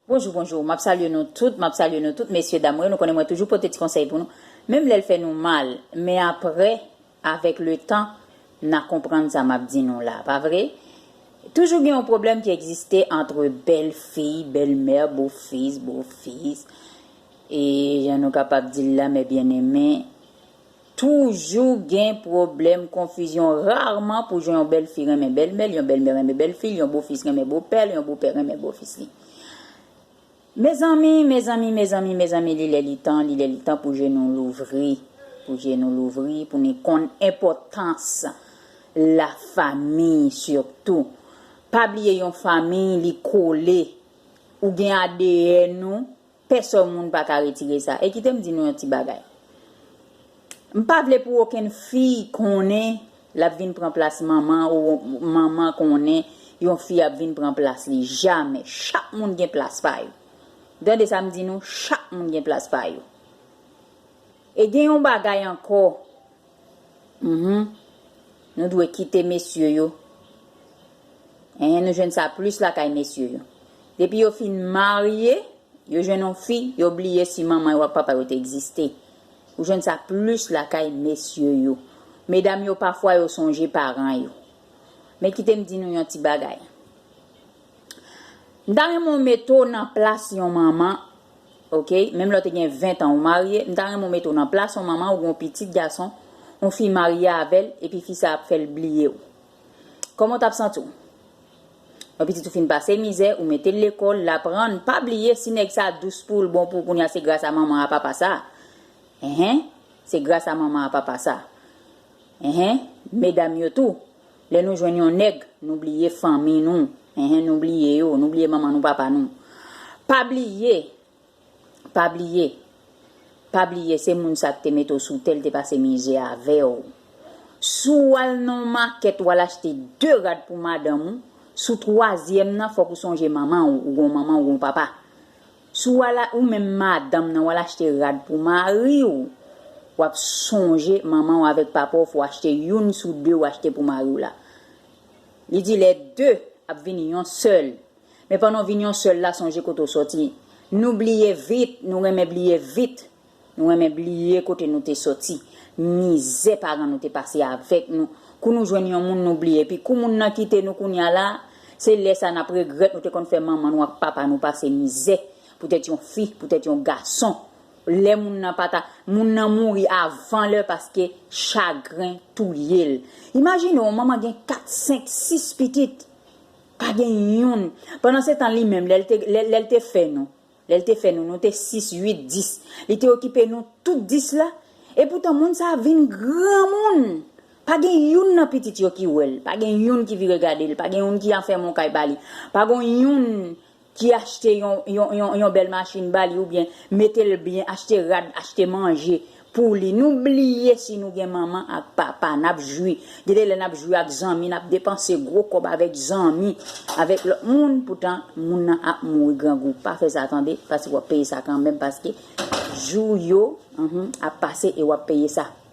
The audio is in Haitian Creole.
Bonjou bonjou map salye nou tout map salye nou tout mesye dam mwen nou konnen mwen toujou pote ti konsèy pou nou menm lèl fè nou mal men aprè avèk le tan na konprann sa map di nou la pa vre toujou gen yon problèm ki egziste antre bèl fiy bèl mè bo fis bo fis e jan nou kapab dil la mè byeneme. Toujou gen pwoblèm, konfizyon, rarman pou jan yon bèl fi renmen bèl mè l, yon bèl mè renmen bèl fi l, yon bo fis renmen bo pè l, yon bo pè renmen bo fis li. Mezanmi, mezanmi, mezanmi, mezanmi li lè li tan, li lè li tan pou je nou louvri, pou je nou louvri, pou nou konn enpòtans la famiy sitou. Pa bliye yon famiy li kole, ou gen adn ou, Pèsòn moun pa ka retire sa. E kite m di nou yon ti bagay. M pa vle pou okenn fi konnen l ap vin pran plas manman ou manman konnen yon fi ap vin pran plas li. Jamè. Chak moun gen plas pa yo. Ou tande sa m di nou? Chak moun gen plas pa yo. E gen yon bagay ankò. Mph nou dwe kite mesye yo Mph nou jwenn sa plis lakay mesye yo depi yo fin marye yo jwenn yon fi yo bliye si manman yo ak papa yo te egziste ou jwenn sa plis lakay mesye yo medam yo pafwa yo sonje paran yo men kite m di nou yon ti bagay M ta renmen w mete w nan plas yon manman ok menm lè w te gen 20 tan ou marye m ta renmen w mete w nan plas yon manman ou gen yon pitit gason yon fi marye avè l epi fi sa ap fè l bliye w kòman w t ap santi w yon pitit ou fin pase mizè ou mete l lekòl l aprann pa bliye si nèg sa dous pou l bon pou l kounye a se gras a manman a papa sa enhen se gras a manman a papa sa enhen medam yo tou. Lè nou jwenn yon nèg, nou bliye fanmi nou, enh nou bliye yo, nou bliye manman nou papa nou. Pa bliye, pa bliye, pa bliye se moun sa k te mete w sou tè l te pase mizè avè w. Si w al nan yon makèt w al achte 2 rad pou madanm ou, sou twazyèm nan fòk ou sonje manman w, ou gen yon manman ou gen yon papa. Si w al ou menm madanm nan w al achte rad pou mari w, w ap sonje manman w avèk papa w fè w achte youn sou de w achte pou mari w la. Li di lè de ap vin yon sèl. Men pandan w vin yon sèl la sonje kote w sòti. Nou bliye vit, nou renmen bliye vit. Nou renmen bliye kote nou te soti, mizè paran nou te pase avèk nou, kou nou jwenn yon moun nou bliye epi kou moun nan kite nou kounya la, se lè sa nap regrèt nou te konn fè manman nou ak papa nou pase mizè poutèt yon fi, poutèt yon gason, lè moun nan pata, moun nan mouri avan lè paske chagren touyel. Imajine yon manman gen 4, 5, 6 pitit, pa gen youn, pandan se tan li menm lèl te fè nou, Lè l te fè nou, nou te sis, uit, dis. Li te okipe nou tout dis la. Epoutan, moun sa a vin granmoun! Pa gen youn nan pitit yo ki wè l, pa gen youn ki vire gade l, pa gen youn ki afèmen yon kay ba li, pa gen youn ki achte yon bèl machin ba li oubyen mete l byen, achte rad, achte manje Pou li nou bliye si nou gen manman ak papa nap jwi gen de lè nap jwi ak zanmi nap depanse gwo kòb avèk zanmi avèk lòt moun poutan moun nan ap mouri grangou pa fè sa tande paske wap peye sa kanmenm paske jou yo ap pase e wap peye sa.